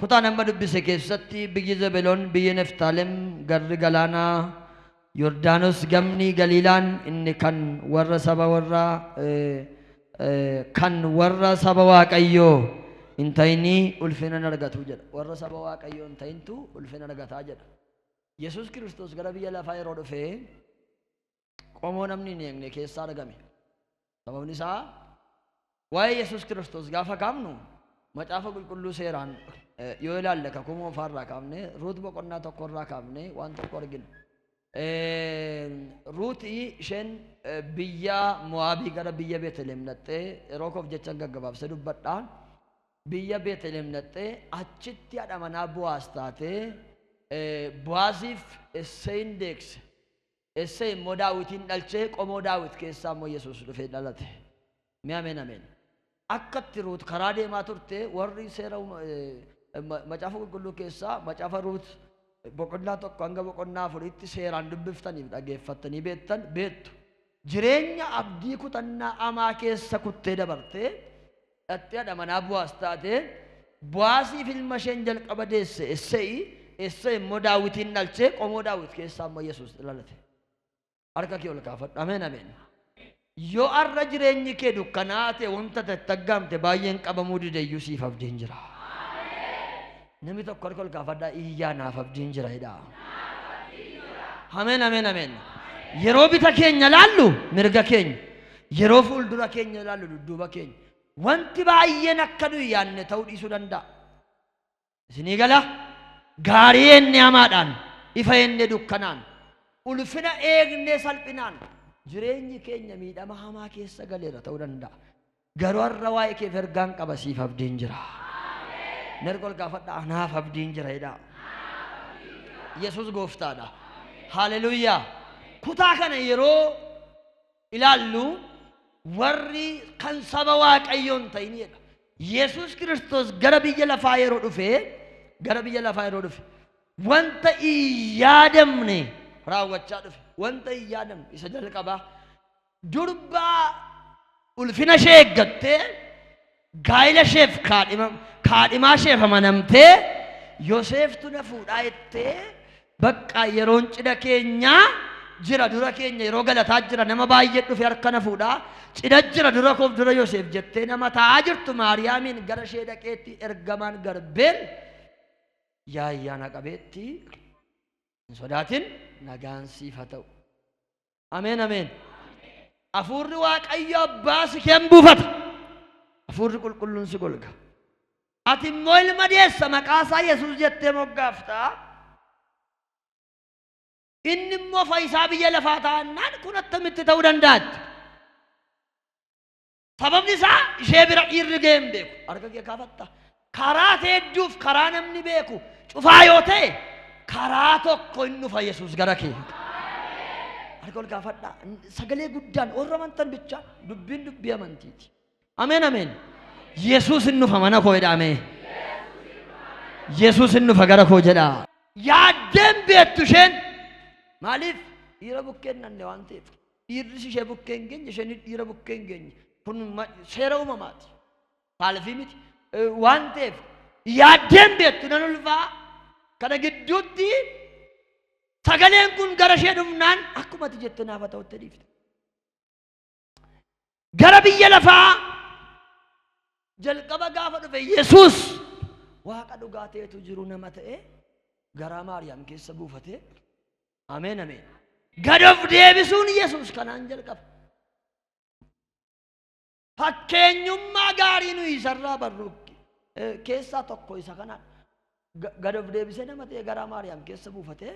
Kutaan amma dubbise keessatti biyyi Zebeloon, biyyi Neftaalem, garri galaanaa Yordaanos gamni Galiilaan inni kan warra saba warra kan warra saba Waaqayyoo hin ta'inii ulfina hin argatu jedha. Warra saba Waaqayyoo hin ta'intu ulfina argataa jedha. Yesuus Kiristoos gara biyya lafaa yeroo dhufee qomoo namni hin eegne keessa argame. Sababni isaa waa'ee Yesuus Kiristoos gaafa kaafnu macaafa qulqulluu seeraan eh, yoo ilaalle kakuu moofaa irraa kaafne ruut boqonnaa tokko irraa kaafne waan tokko argina. Eh, Ruuti isheen eh, biyya Mo'aabii gara biyya Beeteleem dhaqxee yeroo koof jecha gaggabaabsee dubbadha. Biyya Beeteleem dhaqxee achitti haadha manaa Buwaas taatee eh, Buwaaziif Isseeyin deegse. Essey immoo Daawitiin dhalchee qomoo Daawit keessaa immoo Yesuus dhufee dhalate. Mee ameen ameen. Akkatti Ruut karaa deemaa turte warri seera uuma- eh, ma- macaafa qulqulluu keessaa macaafa Ruut boqonnaa tokko hanga boqonnaa afuriitti seeraan dubbiftaniif dhageeffattanii beektan beektu. Jireenya abdii kutannaa amaa keessa kuttee dabartee dhaqxee hadha manaa Boaz taate, Boaziif ilma isheen jalqaba deesse Esseyi, Esseyi immoo Daawitiin dhalche, qomoo Daawit keessaa immoo Yesuus dhalate. Harka kee ol kaafadhu. Ameen ameen. Yoo har'a jireenyi kee dukkanaa ta'e wanta tatti aggaamte baay'een qabamuu dideyyuu siif abdiin jira. Nami tokko harka ol kaafadhaa iyyaa naaf abdiin jira jedhaa. Ameen ameen ameen. Yeroo bita keenya laallu mirga keenya. Yeroo fuuldura keenya laallu dudduuba keenya. Wanti baay'een akka nuyi yaadne ta'uu dhiisuu danda'a. Isinii gala gaarii eenne hamaadhaan ifa eenne dukkanaan ulfina eegnee salphinaan jireenyi keenya miidhama hamaa keessa galeera ta'uu danda'a. Garuu har'a waa'ee keef ergaan qaba siif abdiin jira. Mirga ol gaafadha anaaf abdiin jira jedhaa. Yesuus gooftaadha. Haaleluyyaa. Kutaa kana yeroo ilaallu warri kan saba waaqayyoon ta'in jedha. Yesuus Kiristoos gara biyya lafaa yeroo dhufe gara biyya lafaa yeroo dhufe wanta hin yaadamne raawwachaa dhufe. Wanta hin yaadamne isa jalqabaa Durbaa ulfina ishee eeggattee gaa'ila isheef kaadhima- kaadhimaa isheef amanamtee Yoseeftu na fuudhaa jettee bakka yeroon cidha keenyaa jira dura keenya yeroo galataa jira nama baay'ee dhufe harka na fuudhaa cidha jira dura koof dura Yoseef jettee nama taa'aa jirtu Maariyaamiin gara ishee dhaqeetti ergamaan garbeen yaa ayyaana qabeetti hin sodaatin nagaan siif haa ta'u. Ameen ameen. Hafuurri Waaqayyo abbaa si keen buufata. Hafuurri qulqulluun si golga. Ati immoo ilma deessa maqaa isaa Yesuus jettee moggaafta. Inni immoo fayyisaa biyya lafaa taa'annaan kun attamitti ta'uu danda'a? Sababni isaa ishee bira dhiirri ga'ee hin beeku. Harka kee kaafatta. Karaa teedduuf karaa namni beeku cufaa yoo ta'e karaa tokko hin dhufa Yesuus gara kee. Harka ol kaafadhaa. Sagalee guddaan warra amantan bichaa dubbiin dubbii amantiiti. Ameen ameen. Yesuus hin dhufa mana koo jedha ameen. Yesuus hin dhufa gara koo jedha. Yaaddeen beektu isheen maaliif dhiira bukkeen nanne waan ta'eef. Dhiirris ishee bukkee hin geenye, isheenis dhiira bukkee hin geenye. Kun ma- seera uumamaati. Saalfii miti. Eh, Waan ta'eef yaaddeen beektu nan ulfaa kana gidduutti sagaleen kun gara ishee dhufnaan akkuma ati jette naaf haa ta'utti dhiifte. gara biyya lafaa jalqaba gaafa dhufe Yesuus waaqa dhugaa ta'etu jiru nama ta'e garaa Maariyaam keessa buufate. Ameen ameen. Gad of deebisuun Yesuus kanaan jalqaba. Fakkeenyummaa gaarii nuyi isarraa barru eh, keessaa tokko isa kana Ga- gad of deebisee nama ta'e garaa Maariyaam keessa buufate.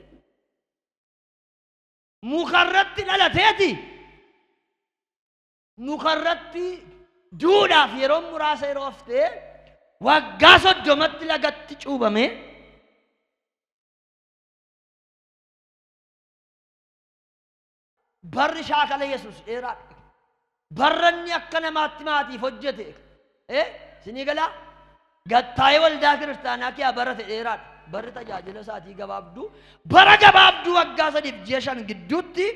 mukarratti dhalateeti mukarratti duudhaaf yeroo muraasa yeroo haftee waggaa soddomatti lagatti cuubame barri shaakala yesus dheeraadha Barranni akka namaatti maatiif hojjete ee sinii galaa gattaa'ee waldaa kiristaanaa kiyaa bara fedheeraadha. Barri tajaajila isaatii gabaabduu bara gabaabduu waggaa sadiif ji'a shan gidduutti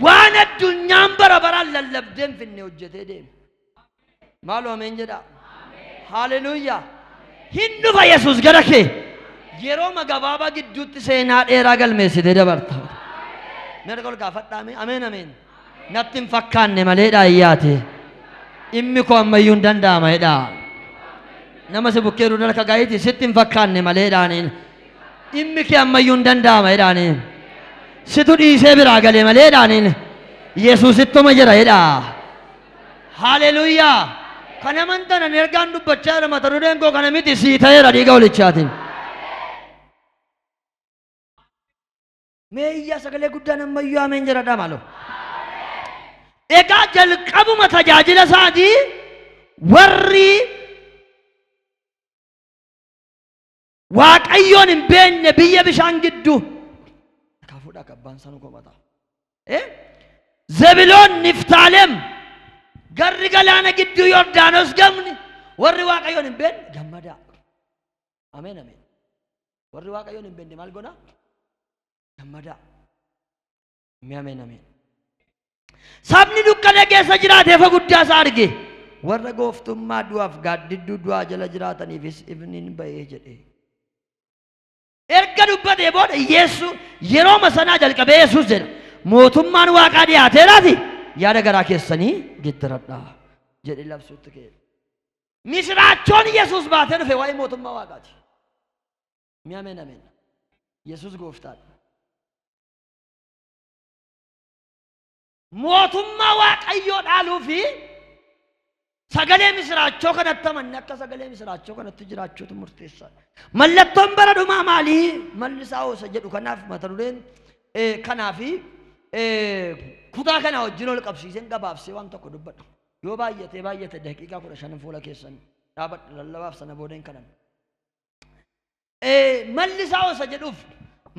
waan addunyaan bara baraan lallabdee hin finne hojjetee deeme. Maaloo ameen jedhaa. Haaleluyyaa. Hin dhufa Yesuus gara kee. Yerooma gabaabaa gidduutti seenaa dheeraa galmeessitee dabarta. Mirga ol gaafadhaame. Ameen ameen. Natti hin fakkaanne maleedhaa iyyaate. Dhimmi koo ammayyuu hin danda'ama jedhaa. Nama si bukkee duudala akka gaayiti sitti hin fakkaanne maleedhaaniin. Dhimmi kee ammayyuu hin danda'ama jedhaaniin. Situ dhiisee biraa galee maleedhaaniin. Yesuusittuma jira jedhaa. Haaleluyyaa. Kan amantan ani ergaan dubbachaa jira mata dureen koo kana miti sii ta'eera dhiiga olichaatiin. Mee iyyaa sagalee guddaan ammayyuu ameen jedhadhaa maaloo. Egaa jalqabuma tajaajila isaatii warri waaqayyoon hin beekne biyya bishaan gidduu kaafuudha akka abbaan isaa nu komataa. Eh? Zebiloon Niftaalem garri galaana gidduu Yordaanos gamni warri waaqayyoon hin beekne gammadaa. Ameen ameen. Warri waaqayyoon hin beekne maal godhaa? Gammadaa. Mee ameen ameen. Sabni dukkana keessa jiraate ifa guddaa isaa arge. Warra gooftummaa du'aaf gaaddidduu du'aa jala jiraataniifis ifni ni ba'ee jedhe. Erga dubbatee booda Yeesuu yerooma sanaa jalqabee Yesuus jedha. Mootummaan waaqaa dhiyaateeraafi yaada garaa keessanii geeddaradhaa jedhee labsuutti ka'e. Misiraachoon Yesuus baatee dhufe waa'ee mootummaa Waaqaati. Mi ameen ameen. Yesuus gooftaadha. Mootummaa Waaqayyoo dhaaluu fi sagalee misiraachoo kanatti amanne akka sagalee misiraachoo kanatti jiraachuutu murteessaadha. Mallattoon bara dhumaa maalii? Malli isaa hoosa jedhu kanaaf mata dureen eh, kanaa fi eh, kutaa kanaa wajjin ol qabsiiseen gabaabsee waan tokko dubbadha. Yoo baay'atee baay'ate daqiiqaa kudha shanan fuula keessan dhaabadha lallabaaf sana booda hin kadhanna. Malli isaa osa jedhuuf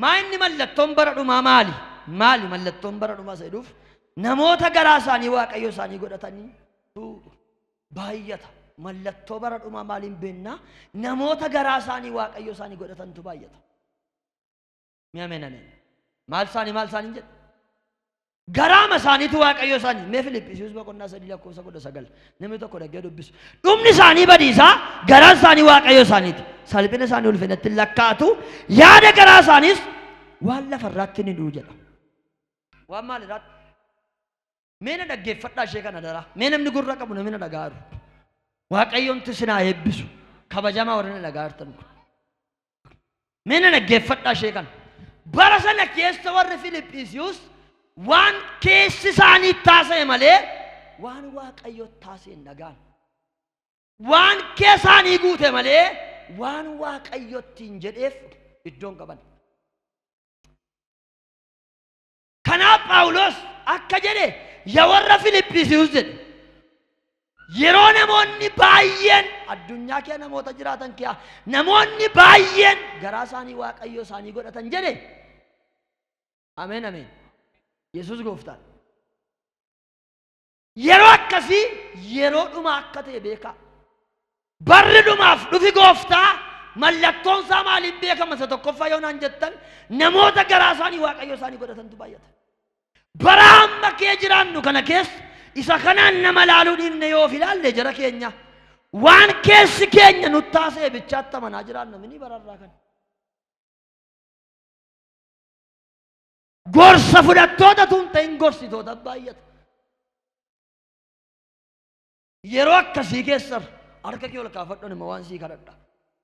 maa inni mallattoon bara dhumaa maali? Maali mallattoon bara dhumaa isa jedhuuf namoota garaa isaanii waaqayyo isaanii godhatanii baay'ata. Mallattoo bara dhumaa maaliin beennaa namoota garaa isaanii waaqayyo isaanii godhatantu baay'ata. Mee ameen ameen. Maal isaanii maal isaanii jedhu? Garaama isaaniitu waaqayyo isaanii. Mee Filiphisius boqonnaa sadii lakkoofsa kudha sagal namni tokko dhaggee dubbisu. Dhumni isaanii badiisaa garaan isaanii waaqayyo isaaniiti. Salphina isaanii ulfinatti hin lakkaa'atu yaada garaa isaaniis waan lafarraatti ni du'u jedha. Waan maalirraatti? Mee na dhaggeeffadhaa ishee kana daraa. Mee namni gurra qabu namni na dhaga'aa jiru. Waaqayyoomti isin haa eebbisu. Kabajamaa warri na dhaga'aa jirtan kun. Mee na dhaggeeffadhaa ishee kana. Bara sana keessa warri Filiphisiiyus waan keessi isaanii taasise malee waan Waaqayyo taasise hin dhagaan. Waan keessaanii guute malee waan Waaqayyotti hin jedheef iddoon qaban. Kanaaf Phaawulos akka jedhe ya warra Filiphisius jedhe. Yeroo namoonni baay'een addunyaa kee namoota jiraatan kee namoonni baay'een garaa isaanii waaqayyo isaanii godhatan jedhe. Ameen ameen. Yesuus gooftaan. Yeroo akkasii yeroo dhumaa akka ta'e beekaa. Barri dhumaaf dhufi gooftaa mallattoon isaa maaliin beekama isa tokkoffaa yoo naan jettan namoota garaa isaanii waaqayyo isaanii godhatantu baay'ata. Bara amma kee jiraannu kana keessa isa kanaan nama laaluu dhiifne yoo of ilaalle jara keenya waan keessi keenya nutti taasee bichaatti amanaa jiraanna mini bararraa kana. Gorsa fudhattoota tun ta'in gorsitoota baay'ata. Yeroo akkasii keessa harka kee ol kaafadhuun immoo waan sii kadhadha.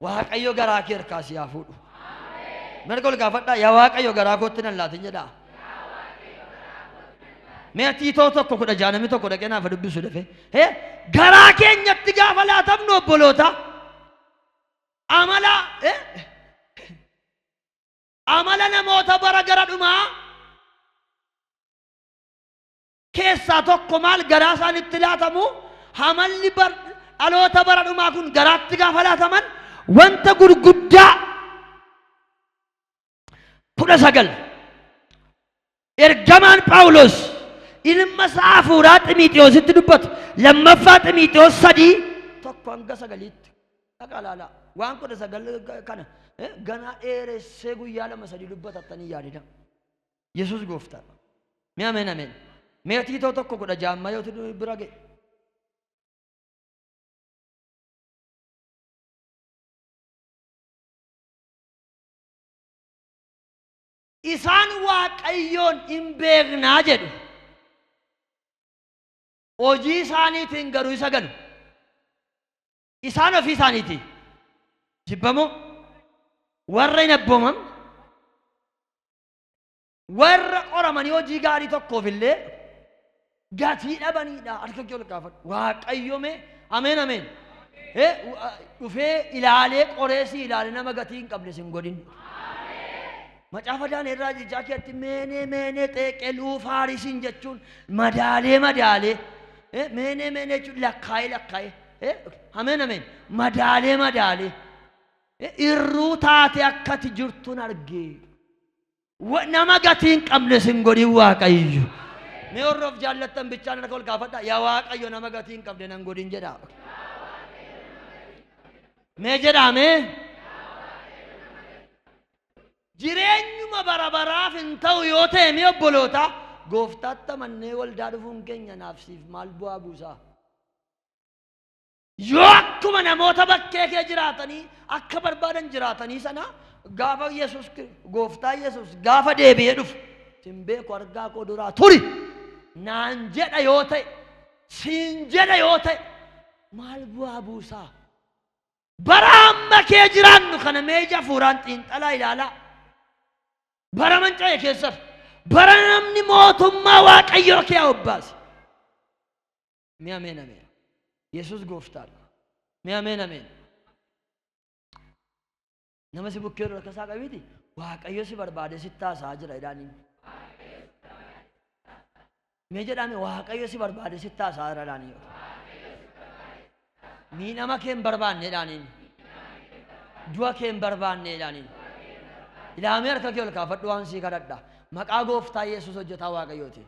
Waaqayyo garaa kee harkaa si haa fuudhu. Mirga ol kaafadhaa yaa Waaqayyo garaa kootti nan laatin jedhaa. Mee ati itoo tokko kudha ja'a namni tokko dhaqee naaf dubbisu dafee. Hee garaa keenyatti gaafa laatamnu obboloota amala hee Amala namoota bara gara dhumaa keessaa tokko maal garaa isaanitti laatamu hamalli bar, dhaloota bara dhumaa kun garaatti gaafa laataman wanta gurguddaa kudha sagal Ergamaan Phaawulos ilma isaa hafuuraa Ximiixiyoositti dubbatu lammaffaa Ximiixiyoos sadii tokko hanga sagaliitti dhaqa ilaalaa waan kudha sagal kana eh, ganaa dheeressee guyyaa lama sadii dubbatattanii yaadida Yesuus gooftaa mee ameen ameen mee tiitoo tokko kudha jaammaa yoo tudu bira ga'e Isaan Waaqayyoon in beeknaa jedhu. Hojii isaaniitiin garuu isa ganu. Isaan ofii isaaniiti. Jibbamoo warra hin abbooman warra qoramanii hojii gaarii tokkoof illee gatii dhabaniidha harka kee ol kaafadhu waaqayyo mee ameen ameen Eh, u- a- dhufee ilaalee qoree si ilaale nama gatii hin qabne sin godhin macaafa daaneerraa jechaa keetti meenee meenee xeeqee luufaarisiin jechuun madaalee madaalee Eh, meenee meenee jechuun lakkaa'ee lakkaa'ee Eh, ameen ameen madaalee madaalee Eh, irruu taatee akkati jirtuun argee Wa- Nama gatii hin qabne sin godhin waaqayyo. Mee warri of jaallattan bichaan harka ol kaafadha. Yaa waaqayyo nama gatii hin qabne nan godhin jedha. Mee jedhaa mee. Jireenyuma bara baraaf hin ta'u yoo ta'e mee obboloota gooftaatti amannee waldaa dhufuun keenya naaf siif maal bu'aa buusaa? Yoo akkuma namoota bakkee kee jiraatanii akka barbaadan jiraatanii sana gaafa Yesuus gooftaa Yesuus gaafa deebi'ee dhufu sin beeku argaa koo duraa turi naan jedha yoo ta'e siin jedha yoo ta'e maal bu'aa buusaa bara amma kee jiraannu kana mee ija hafuuraan xiinxalaa ilaalaa bara manca'e keessaf bara namni mootummaa waaqayyoo kee obbaase Mee ameen ameen. Yesuus gooftaadha. Mee ameen ameen. Nama si bukkee irra kasaa qabiiti waaqayyo si barbaade si taasaa jira jedhaaniin. Mee jedhaame waaqayyo si barbaade si taasaa jira jedhaaniin. Miidhama kee hin barbaanne jedhaaniin. Du'a kee hin barbaanne jedhaaniin. Ilaamee harka kee ol kaafadhu waan sii kadhadha. Maqaa gooftaa Yesuus hojjetaa waaqayyootiin.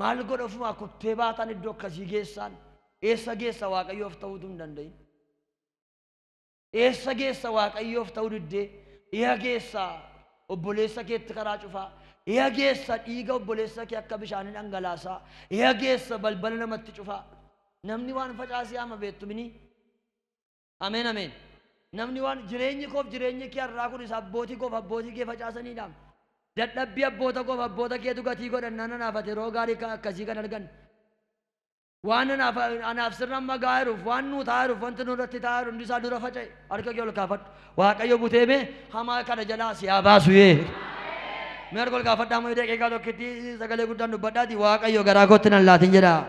Maal godha ofumaa kuttee baataan iddoo akkasii geessaan eessa geessa waaqayyoof ta'uutu hin danda'in. Eessa geessa waaqayyoof ta'uu diddee dhiha geessa obboleessa keetti karaa cufaa dhiha geessa dhiiga obboleessa kee akka bishaanii dhangalaasaa dhiha geessa balbala namatti cufaa namni waan facaasee ama beektu minii Ameen Ameen Namni waan jireenyi koof jireenyi kee har'aa kun isa abbootii koof abbootii kee facaasaniidhaam. Dadhabbii abboota koof abboota keetu gatii godhannaan anaaf ati yeroo gaarii akka akkasii kan arganne. Waan anaaf anaaf sirna amma ga'aa jiruuf waan nuu ta'aa jiruuf wanti nurratti ta'aa jiru hundi isaa dura faca'e harka kee ol kaafadhu. Waaqayyo butee mee hamaa kana jalaa si haa baasu yee. Mee harka ol kaafadhaa moo daqiiqaa tokkitti sagalee guddaan dubbadhaati Waaqayyo garaa kootti nan laatin jedhaa.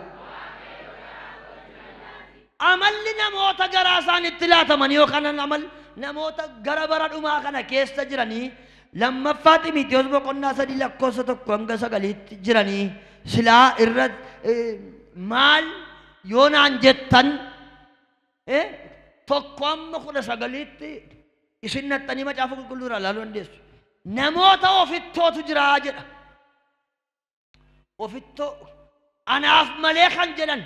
Amalli namoota garaasaanitti laatamanii yookaan amal namoota gara bara dhumaa kana keessa jiranii lammaffaa Ximiitiyoos boqonnaa sadii lakkoofsa tokko hanga sagaliitti jiranii silaa irra maal yoo naan jettan tokko amma kudha sagaliitti isin naxxanii macaafa qulqulluu irraa ilaaluu dandeessu. Namoota ofittootu jiraa jedha. ofittoo anaaf malee kan jedhan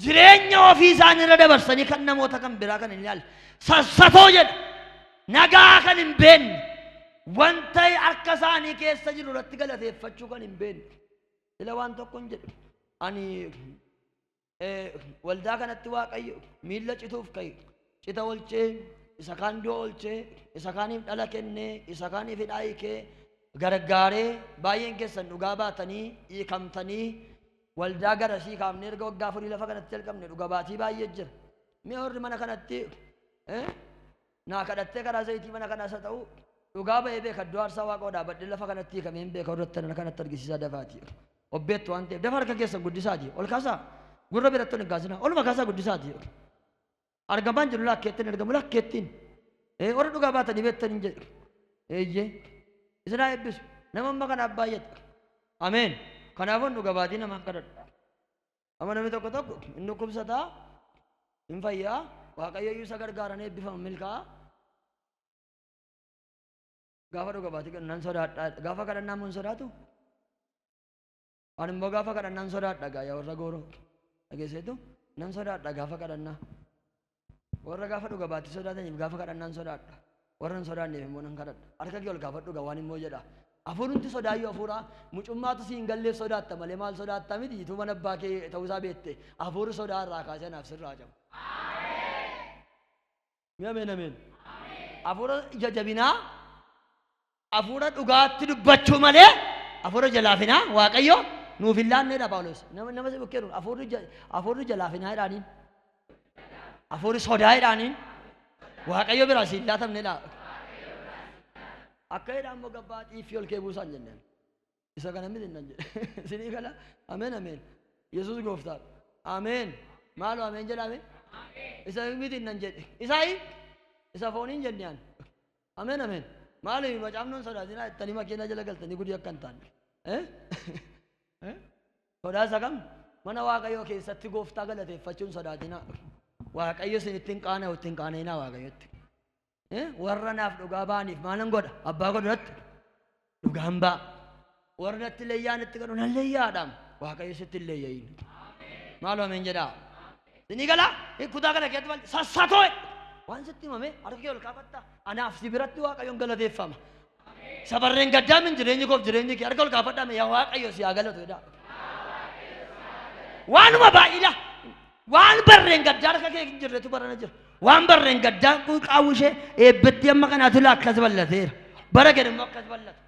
jireenya ofii isaanii irra dabarsanii kan namoota kan biraa kan hin ilaalle sassatoo jedha nagaa kan hin beenne wanta harka isaanii keessa jiru irratti galateeffachuu kan hin beenne sila waan tokko hin jedhu ani waldaa kanatti waaqayyo miilla cituuf ka'e cita olchee isa kaan du'a olchee isa kaaniif dhala kennee isa kaaniif hidhaa hiikee gargaaree baay'een keessan dhugaa baatanii hiikamtanii waldaa garasii kaafnee erga waggaa afurii lafa kanatti jalqabne dhuga baatii baay'ee jira mee warri mana kanatti Naa kadhattee karaa zayitii mana kanaas haa ta'uu dhugaa ba'ee beeka iddoo aarsaa waaqoo dhaabadhee lafa kanatti hiikamee hin beeka irratti ana kanatti argisiisaa dafaati. Obbeettu waan ta'eef dafa harka keessan guddisaati ol kaasaa gurra biratti ol hin kaasinaa oluma kaasaa guddisaati. Argamaan jiru lakkeettiin argamu lakkeettiin. Ee warra dhugaa baatanii beektan hin jedhu. Eeyyee isin haa eebbisu nama amma kanaaf baay'ata. Ameen. Kanaafuu dhuga baatii namaan kadhadhu. Amma namni tokko tokko hin dhukkubsataa, hin fayyaa, waaqayyo iyyuu isa gargaaran eebbifama milkaa'a. Gaafa dhuga baate kan nan sodaadha. Gaafa kadhannaa immoo hin sodaatu. Ani immoo gaafa kadhannaa hin sodaadha gaa yaa warra gooroo. Dhageesseetu nan sodaadha gaafa kadhannaa. Warra gaafa dhuga baatti sodaataniif gaafa kadhannaan sodaadha. Warra hin sodaanneef immoo nan kadhadha. Harka kee ol kaafadhu gaa waan immoo jedha. Hafuurumti sodaayyuu hafuura mucummaatu si hin galleef sodaatta malee maal sodaatta miti ituu mana abbaa kee ta'uusaa beette hafuurri sodaa irraa kaasee anaaf sirraa cabu. Mee ameen ameen. Hafuura ija jabinaa Afuura dhugaatti dubbachuu malee afuura jalaafinaa Waaqayyo nuuf hin laanneedha Phaawulos. Nama nama si bukkee dhufu afuurri ja- afuurri jalaafinaa jedhaaniin. Afuurri sodaa jedhaaniin. Waaqayyo biraa si hin laatamneedha. Akka jedhaan immoo gabbaa xiiffii ol kee buusaan jenneen. isa kana miti nan jedhe isinii gala ameen ameen yesus gooftaa ameen maaloo ameen jedhame isa miti nan jedhe isaayi isa fooniin jenne ani ameen ameen maaloo macaafnoon sodaatinaa ittanii makiina jala galtanii gudii akka hin taane Eh? Eh? sodaa isa kam mana waaqayyoo keessatti gooftaa galateeffachuun sodaatinaa waaqayyo isin ittiin qaana'u ittiin qaana'inaa waaqayyotti Eh, warra naaf dhugaa ba'aniif maalan godha abbaa godhu natti dhugaan ba'a warra natti leeyyaa natti godhu nan leeyyaadhaam waaqayyo sitti hin leeyya'iin maal ameen jedhaa sinii galaa Eh, kutaa kana keessatti maal sassatoo waan sitti himame harka kee ol kaafatta anaaf si biratti waaqayyoon galateeffama Sabarreen gaddaa min jireenyi koof jireenyi kee harka ol kaafadhaa mee yaa waaqayyo si haa galatu jedhaa. Waanuma baay'ila waan barreen gaddaa harka kee hin jirretu barana jira. Waan barreen gaddaa qaawwi ishee eebbatti amma kanaatu ilaa akkas ballateera. Bara gad immoo akkas ballata.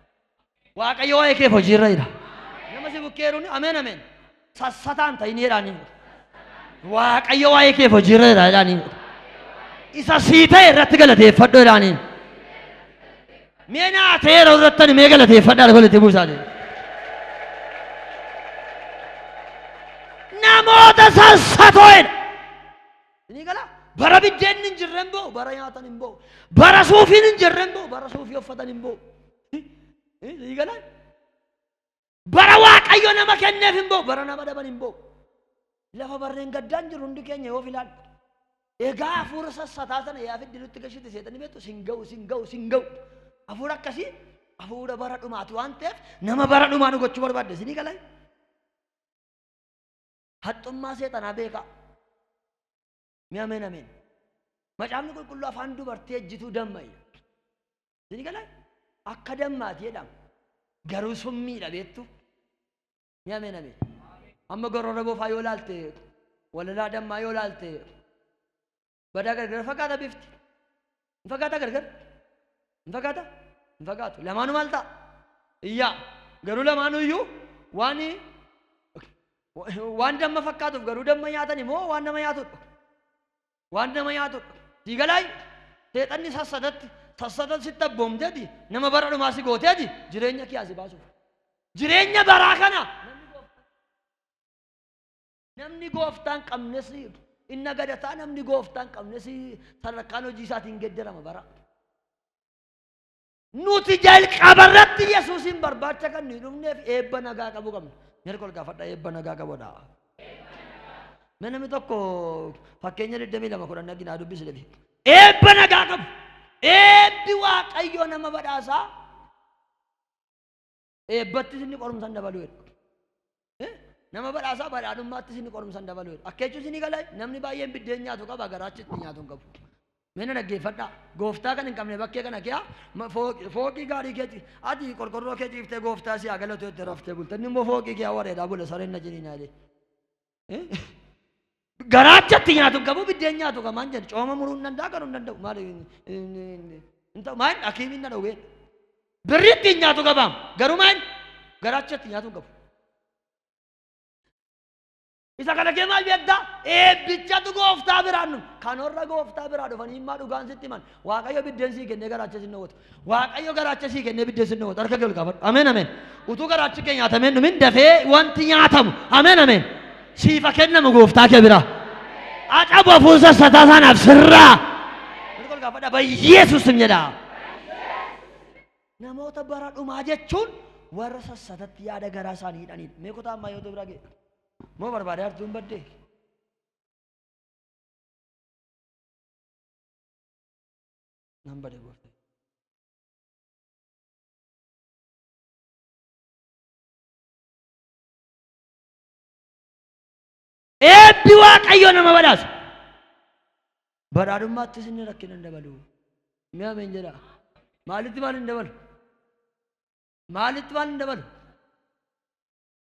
Waaqayyo waa'ee keef hojiirra jira. Nama si bukkeeruun ameen ameen. Sassataa hin ta'in jedhaa niin godha. Waaqayyo waa'ee keef hojiirra jira jedhaa niin godha. Isa sii ta'e irratti galateeffadhu jedhaa niin. Mee naa ta'e yeroo irratti ani mee galateeffadhaa lafa walitti buusaa ta'e. Namoota sassatoo jedha. Ni gala. Bara biddeen hin jirre hin bo'u, bara nyaatan hin bo'u. Bara suufiin hin jirre hin bo'u, bara suufii uffatan hin bo'u. Ni gala. Bara Waaqayyo nama kenneef hin ba'u, bara nama dhaban hin ba'u. Lafa barreen gaddaan jiru hundi keenya yoo filaan. Egaa hafuura sassataa sana yaa fiddi nutti gashite seexanii beektu sin ga'u sin ga'u sin ga'u. Hafuura akkasii hafuura bara dhumaati waan ta'eef nama bara dhumaa nu gochuu barbaadde isinii galee. Haxxummaa seexanaa beekaa. Mee ameen ameen. Macaafni qulqulluu afaan dubartii ejjituu damma jedha. Isin galan akka dammaati jedhama. Garuu summiidha beektu. Mee ameen ameen. Amma gorora bofaa yoo laalte walalaa dammaa yoo laalte badaa gargar fakkaata bifti. hin fakkaataa gargar hin fakkaata hin fakkaatu lamaanu maal ta'a iyyaa garuu lamaanuu iyyuu waan waan damma fakkaatuuf garuu damma nyaatan immoo waan nama nyaatudha waan nama nyaatudha sii galaayyu seexanni sassadatti sassatan sitti abboomteeti nama bara dhumaa si gooteeti jireenya kee asi baasuuf jireenya baraa kana Namni gooftaa hin qabnes in nagadataa namni gooftaa hin qabnes sadarkaan hojii isaatiin hin geddarama bara. Nuti jalqaba irratti Yesuusiin barbaacha kan nuyi dhufneef eebba nagaa qabu qabna. Mirga ol gaafadha eebba nagaa qabudha. Mee namni tokko fakkeenya 22 kudhan dhagina haa dubbisu dhabe. Eebba nagaa qabu. Eebbi waaqayyoo nama badhaasaa eebbattis inni qorumsan dabaluu jedhu. Eh? Nama badhaasaa badhaadhummaattis inni qorumsan dabaluu jedhu. Akka jechuun isinii galaa namni baay'een biddeen nyaatu qaba garaachi itti nyaatu hin qabu. Meena dhaggeeffadhaa. Gooftaa kan hin qabne bakkee kana kiyaa ma- fooqi- fooqii gaarii keeti ati qorqorroo kee ciiftee gooftaa si haa galatu jette raftee bulte inni immoo fooqii kiyaa wareedaa bule sareen na jiniinaa jedhe. Garaachatti nyaatu hin qabu biddeen nyaatu kan maal jedhu cooma muruu hin danda'a kan hin danda'u maal hin ta'u maal hakiimiin na dhowwee birri ittiin nyaatu qabaam garuu maal garaachatti nyaatu hin qabu. Isa kana kee maal beektaa? Eebbichatu gooftaa biraan dhufu. Kanorra gooftaa biraa dhufanii immaa dhugaan sitti himan. Waaqayyo biddeen sii kennee garaacha sin dhowwatu. Waaqayyo garaacha sii kennee biddeen sin dhowwatu. Harka kee ol kaafadhu. Ameen ameen. Utuu garaachi kee nyaatamee hin dhumin dafee wanti nyaatamu. Ameen ameen. Siifa kennamu gooftaa kee biraa. Acabu hafuun sassataa saanaaf sirraa. Harka ol kaafadha. Bayyeesuus sin jedha. Namoota bara dhumaa jechuun warra sassatatti yaada garaa isaanii hidhaniidha. Mee kutaa ammaa yoo ta'u biraa ga'e. Moo barbaadee hartuun baddee? nan bade goofta eebbi waaqayyo nama badhaasa badhaadhummaattis inni rakkina hin dabalu mee ameen jedha maalitti maal hin dabalu maalitti maal hin dabalu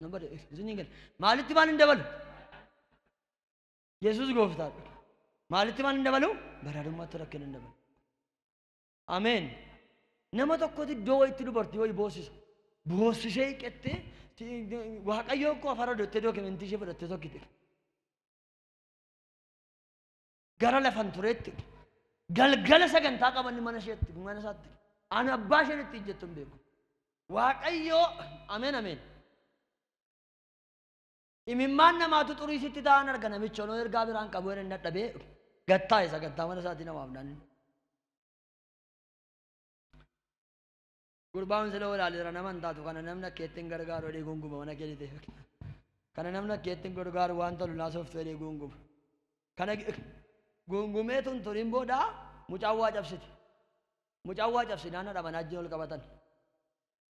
nan bade isin hin gale maalitti maal hin dabalu Yesuus gooftaadha. Maalitti maal hin dabalu? Badhaadhummaatti rakkina hin dabalu. Ameen. Nama tokkotti iddoo wayitti dubartii wayii boossisa. Boossisee hiqettee waaqayyoo koo afara dottee dookimentii ishee fudhattee tokkitti. Gara lafan tureetti galgala sagantaa qabanni mana isheetti mana isaatti ani abbaa isheen itti jettu hin beeku. Waaqayyoo ameen ameen. Imimmaan namaatu xurii sitti ta'an arga namichi onoo ergaa biraan qabu hin dadhabee gattaa isa gattaa mana isaatii namaaf naannin. Gurbaan sila walaaleera nama hin taatu kana namni akka ittiin gargaaru jedhee gunguma mana kee dhitee kana namni akka ittiin gargaaru waan tolu naasoftu jedhee gunguma. Kana gungumee tun turiin booda mucaan waa cabsiti. Mucaan waa cabsinaan haadha manaa ajjin ol qabatan.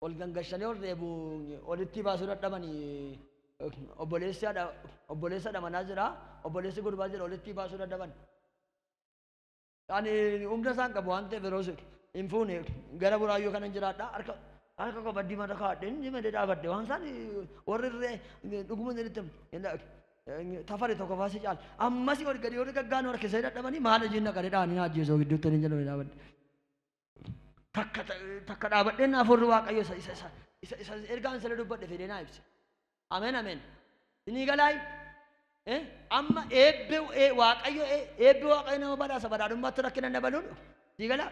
ol gangashanii ol reebu olitti baasuu dadhabanii obboleessi haadha obboleessa dhamanaa jira obboleessi gurbaa jira olitti baasuu dadhaban ani humna isaan qabu waan ta'eef yeroo hin fuune gara buraayyuu kanan jiraadha harka harka koo baddii mata kaadhe inni malee dhaabadde waan isaan warri irree dhuguma jedhitti tafari tokko faasi caal ammasi ol gadi warri gaggaanu harkisee dadhabanii maal hojiin naqare dhaanii naajjeesoo gidduutti hin jedhamee dhaabadde takka takka dhaabadheen afuurri waaqayyo isa isa isa isa isa ergaan sana dubbadhe fedhee naa ibse. Ameen ameen. Sinii galaay eh, amma eebbe eh, waaqayyo eh, eebbe waaqayyo nama badhaasa badhaadhummaatti rakkina dabaluun sii galaa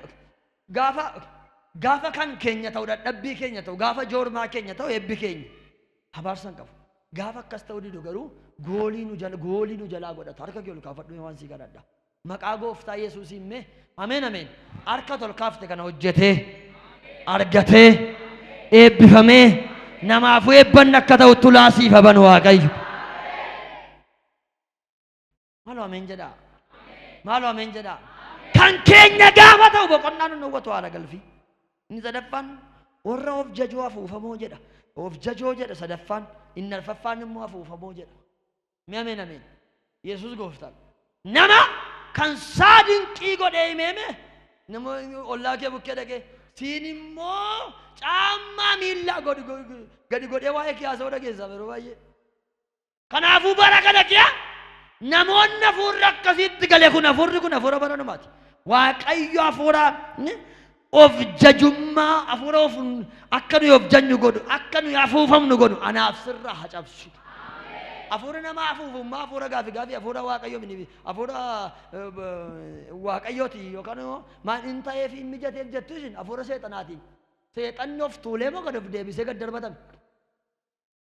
gaafa gaafa kan keenya ta'u dadhabbii keenya ta'u gaafa joormaa keenya ta'u eebbi keenya abaarsan qabu. Gaafa akkas ta'u didu garuu goolii nu jala goolii nu jalaa godhata harka kee ol kaafadhu waan sii kadhadha. Maqaa gooftaa yesuusiin mee ameen ameen harka tol kaafte kana hojjetee argatee eebbifamee namaafuu eebbanni akka ta'u tulaa siif haban waaqayyo. Maaloo ameen jedhaa. Maaloo ameen jedhaa. Kan keenya gaafa ta'u boqonnaan nu hawwatu haala galfii. Inni sadaffaan warra of jajoo afuufamoo jedha. Of jajoo jedha sadaffaan inni arfaffaan immoo afuufamoo jedha. Mee ameen ameen. Yesuus gooftaan. Nama kan saa dinqii godhee himeeme nama ollaa kee bukkee dhaqee siin immoo caammaa miillaa gadi go- gadi godhee waa'ee kee haasa'uu dhageessaa yeroo baay'ee. Kanaafuu bara kana kiya namoonni hafuurri akkasiitti gale kun hafuurri kun hafuura bara dhumaati. Waaqayyo hafuura ni- Of jajummaa hafuura ofuun akka nuyi of janyu godhu, akka nuyi afuufamnu godhu anaaf sirraa haa cabsu. Hafuurri nama afuufummaa hafuura gaafi gaafi hafuura waaqayyoo miti hafuura eh, b- waaqayyooti yookaan immoo maal hin ta'eef hin mijateef jettu isin hafuura seexanaatiin. Seexanni of tuulee moo gad of deebisee gad darbatame.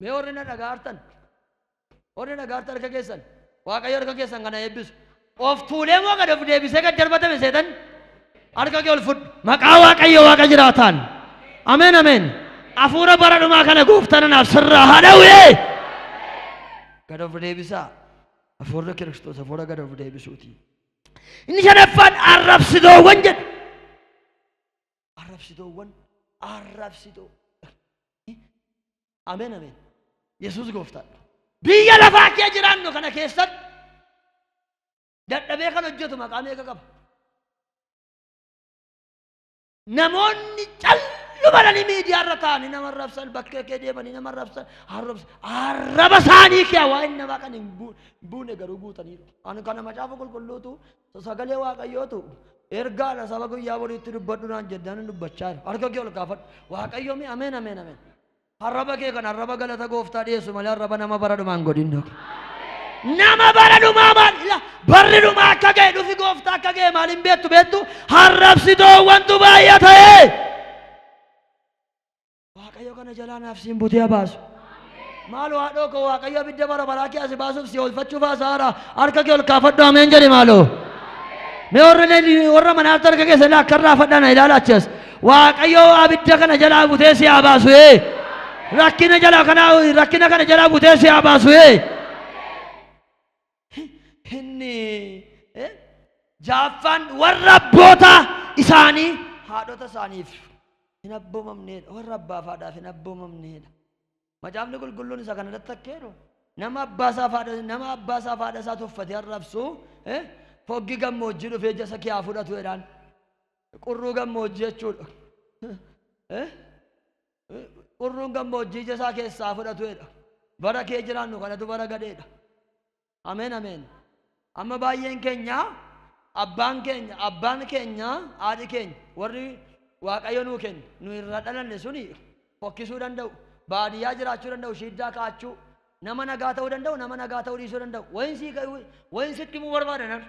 Mee warri na dhagaartan, warri na dhagaartan harka keessan, Waaqayyo harka keessan kana eebbisu. Of tuulee moo gad of deebisee gad darbatame seetan? Harka kee ol fudhu. Maqaa Waaqayyo Waaqa jiraataan. Ameen ameen. Hafuura bara dhumaa kana gooftaan anaaf sirraa haa dhawwee. Gad of deebisaa. Hafuurri Kiristoos hafuura gad of deebisuuti. Inni shanaffaan arrabsitoowwan jedha. arrabsitoowwan arrabsitoo ameen ameen yesuus gooftaadha biyya lafaa kee jiraannu kana keessatti dadhabee kan hojjetu maqaa meeqa qaba namoonni callumadhanii miidiyaa irra taa'anii nama arrabsan bakkee kee deemanii nama arrabsan arrabsa- arraba isaanii kee waa inni namaa kan hin buu- buune garuu guutaniiru ani kana macaafa qulqulluutu Sagalee Waaqayyootu ergaadha saba guyyaa boriitti dubbadhu naan jedhaan dubbachaa jira. Harka kee ol kaafadhu. Waaqayyo mi ameen ameen ameen. Arraba kee kan arraba galata gooftaa dhiyeessu malee arraba nama bara dhumaan godhin dhoke. Nama bara dhumaa maal ila barri dhumaa akka ga'e dhufi gooftaa akka ga'e maal hin beektu beektu harrabsitoowwantu baay'ata. Waaqayyo kana jalaa naaf siin butee haa baasu. Maaloo haadhoo koo Waaqayyo abidda bara baraa kee asi baasuuf si oolfachuuf haasaara. Harka kee ol kaafadhu ameen jedhi maaloo. Mee warra leenjii warra manaatti harka keessa ilaa akka irraa fadhana ilaala achas. Waaqayyo abidda kana jalaa butee si haa baasu. ee. Rakkina jalaa kana rakkina kana jalaa butee si haa baasu. ee. Inni eh, jaaffaan warra abboota isaanii haadhota isaaniif hin abboomamneedha. Warra abbaaf haadhaaf hin abboomamneedha. Macaafni qulqulluun isa kana irratti akka jedhu nama abbaa isaaf haadha nama abbaa isaaf haadha isaa tuffatee arrabsu eh, foggi gammoojjii dhufee ija isa kee haa fudhatu jedhaan. Qurruu gammoojjii jechuudha. Eh? Urruun gammoojjii ija isaa keessaa fudhatuedha. Bara kee jiraannu kanatu bara gadheedha. Ameen ameen. Amma baay'een keenya abbaan keenya abbaan keenya haadhi keenya warri waaqayyo nuu kennu nu irra dhalanne suni fokkisuu danda'u. Baadiyyaa jiraachuu danda'u shiiddaa kaachuu nama nagaa ta'uu danda'u nama nagaa ta'uu dhiisuu danda'u. Wayin sii wayin sitti himuu barbaada nan.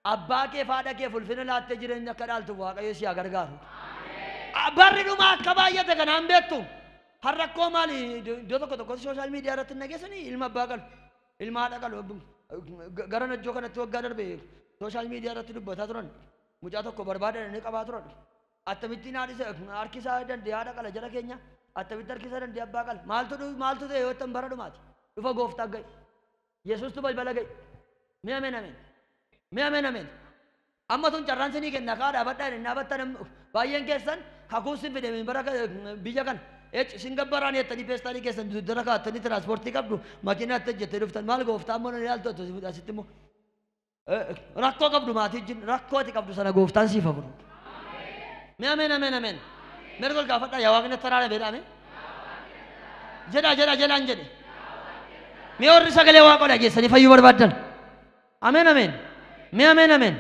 Abbaa keef haadha keef ulfina laattee jireenya akka dhaaltuuf Waaqayyo si haa gargaaru. Barri dhumaa akka baay'ate kana hin beektu. Har'a rakkoo maali iddoo tokko tokkotti sooshaal miidiyaa irratti hin dhageessanii ilma abbaa qalu ilma haadha qalu gara najjoo kanatti waggaa darbe sooshaal miidiyaa irratti dubbataa turan mucaa tokko barbaadan inni qabaa turan akkamittiin haadhisa harkisaa dandee haadha qala jala keenya akkamitti harkisaa dandee abbaa qala maaltu maaltu ta'e yoo ta'an bara dhumaati dhufa gooftaa gahe. Yesuustu balbala ga'e. Mee ameen ameen. Mee ameen ameen. Amma sun carraan sinii kenna kaa dhaabadhaa hin dhaabatta namni baay'een keessan kakuun sin fide bara biyya kana ec sin gabbaraan jettanii peestaalii keessan dudara kaattanii tiraanspoortii qabdu makiinaa itti hojjettee dhuftan maal gooftaa ammoo nan ilaaltu asitti immoo. Rakkoo qabdu maatii wajjin rakkoo ati qabdu sana gooftaan siif furu. Mee ameen ameen ameen. Mee tol gaafadhaa yaa waaqni itti araara beedhaame. Jedhaa jedhaa jedhaan jedhe. Mee warri sagalee waaqoo dhageessanii fayyuu barbaaddan. Ameen ameen. Mee ameen ameen.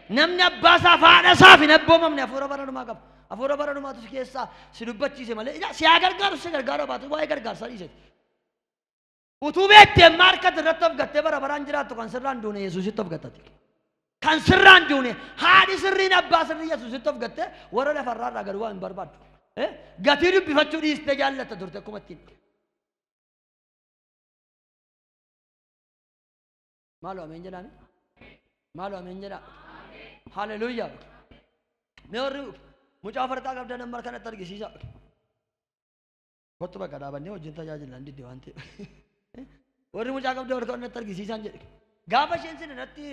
Namni abbaa isaa fi haadha isaa fi hin abboomamne hafuura bara dhumaa qaba. Hafuura bara dhumaatu si keessaa si dubbachiise malee si haa gargaaru si gargaaruu baatu waa'ee gargaarsaa dhiiseeti. Utuu beektee amma harkatti irratti of gattee bara baraan jiraattu kan sirraan duune Yesuusitti of gattati. Kan sirraan duune haadhi sirriin abbaa sirrii Yesuusitti of gattee warra lafarraa irraa gad waa hin barbaaddu. Eh? Gatii dubbifachuu dhiistee jaallatta turte akkuma ittiin. Maaloo ameen jedhaami. Maaloo ameen jedhaa. Haleluuyaa. Mee warri mucaa farqaa qabdan amma kanatti argisiisa. Kottu bakka dhaabannee wajjin tajaajilna hin didde waan ta'eef. Warri mucaa qabdee warra ta'an natti argisiisaan jedhe. Gaafa isheen sin irratti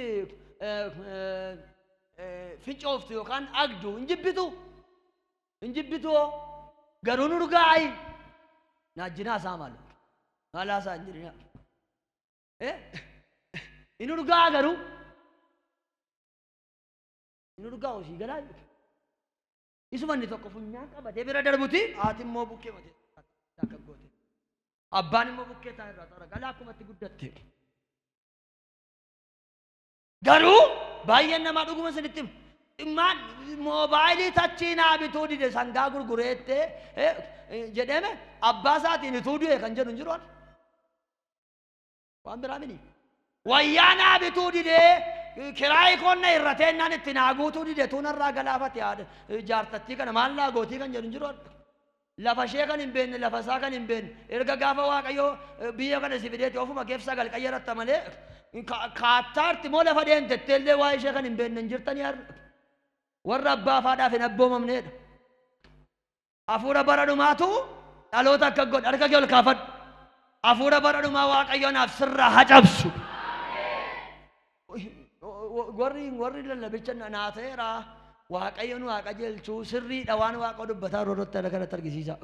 fincooftu yookaan agdu hin jibbitu. Hin jibbitu hoo garuu nu dhugaa ayi. Naajjinaa isaa maal? Maalaa isaa hin jirinaa. Inni dhugaa garuu. Inni dhugaa hojii galaa jechuudha. Isuma inni tokko funyaan qabatee bira darbuti haati immoo bukkee matee akka goote. Abbaan immoo bukkee isaa irraa xara galaa akkuma itti guddatte. Garuu baay'een namaa dhuguma isinitti hima. Dhimmaan moobaayilii tachii naa bituu dide sangaa gurgureette jedhame abbaa isaatiin ituu du'e kan jedhu hin jiru. Waan biraa mini. Wayyaa naa bituu didee kiraayi koon na irratee naan itti naa guutuu dide tuun irraa galaafate haadha jaartattii kana maal naa gootii kan jedhu hin jiru adda. Lafa ishee kan hin beekne lafa isaa kan hin beekne erga gaafa waaqayyoo eh, biyya kana si fideeti ofuma keef sagal qayyaratta malee ka- kaattaarti moo lafa deemtettee illee waa ishee kan hin beekne hin jirtanii har'a. Warra abbaa faadhaaf hin abboomamneedha. Hafuura bara dhumaatu dhaloota akka godhe harka kee ol kaafadhu. Hafuura bara dhumaa Waaqayyo anaaf sirraa haa cabsu. Warri warri lallabicha na- naa ta'eera Waaqayyo nu haa qajeelchu sirriidha waan Waaqa dubbataa yeroo irratti ana kanatti argisiisa.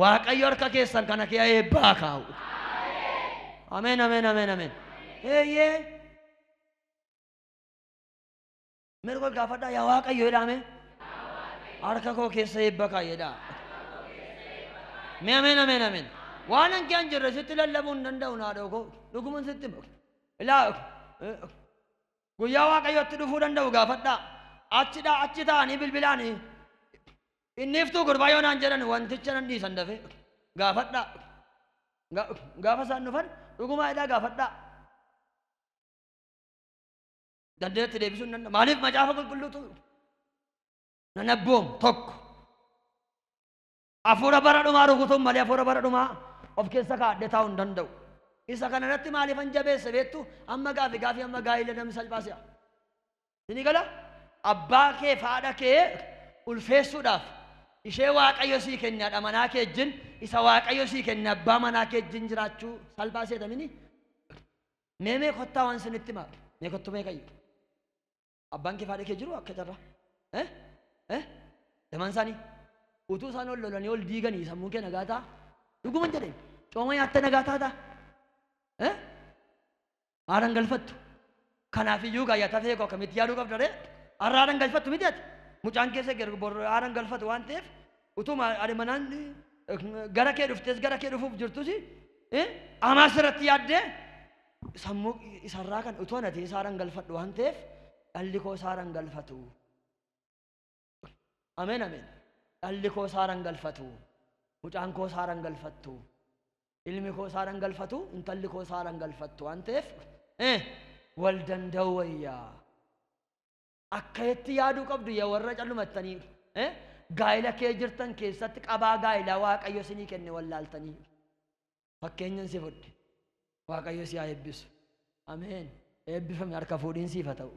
Waaqayyo harka keessan kana kee eebbaa kaa'u. Ameen ameen ameen ameen. Eeyyee. Mee dhugaa gaafadhaa yaa waaqayyo jedhaa mee. Harka koo keessa eebba kaa'i jedhaa. Mee ameen ameen ameen. Waan hanqee hin jirre sitti lallabuu hin danda'u naadhoo koo. Dhuguman sitti hima. Ilaa guyyaa waaqayyootti dhufuu danda'u gaafadhaa. Achidhaa achi ta'anii bilbilaanii. Inni iftuu gurbaa yoo naan jedhan wanticha nan dhiisan dafee gaafadhaa. Ga- Gaafa isaan dhufan dhugumaa jedhaa gaafadhaa. dandeenyatti deebisuu hin danda'u. Maaliif macaafa qulqulluutu nan abboomu tokko. Hafuura bara dhumaa rukutuun malee hafuura bara dhumaa of keessa kaa'adhee taa'uu hin danda'u. Isa kana irratti maaliifan jabeesse beektu amma gaafi gaafi amma gaa'ila namni salphaa si'a. Inni gala abbaa kee fi haadha kee ulfeessuudhaaf ishee waaqayyo sii kenne haadha manaa kee wajjin isa waaqayyo sii kenne abbaa manaa kee wajjin jiraachuu salphaa seetamini Mee mee kottaa waan sinitti himaa. Mee kottu mee kayyu. Abbaan kee faadhee kee jiru akka carraa. Eh? Eh? Lamaan isaanii utuu isaan ol lolanii ol diiganii sammuun kee nagaa ta'a. Dhuguman jedheen cooma nyaattee nagaa taata. Eh? Haadhan galfattu. Kanaaf iyyuu gaayyaa tafee koo akkamitti yaaduu qabda ree? Har'a haadhan galfattu miti ati. Mucaan keessa geergu borroo haadhan galfatu waan ta'eef Utuma haadha manaan gara kee dhuftees gara kee dhufuuf jirtus amaas irratti yaaddee sammuu isarraa kan utuu anatee isaaraan galfadhu waan ta'eef dhalli koo isaaraan galfatu. Ameen ameen. Dhalli koo isaaraan galfatu. Mucaan koo isaaraan galfattu. Ilmi koo isaaraan galfatu. Intalli koo isaaraan galfattu waan ta'eef wal danda'u wayyaa. Akkaitti yaaduu qabdu ya warra callumattanii eh, gaa'ila kee jirtan keessatti qabaa gaa'ilaa Waaqayyo sinii kenne wallaaltanii. Fakkeenyan si fudhe. Waaqayyo si haa eebbisu. Ameen. Eebbifame harka fuudhiin siif haa ta'u.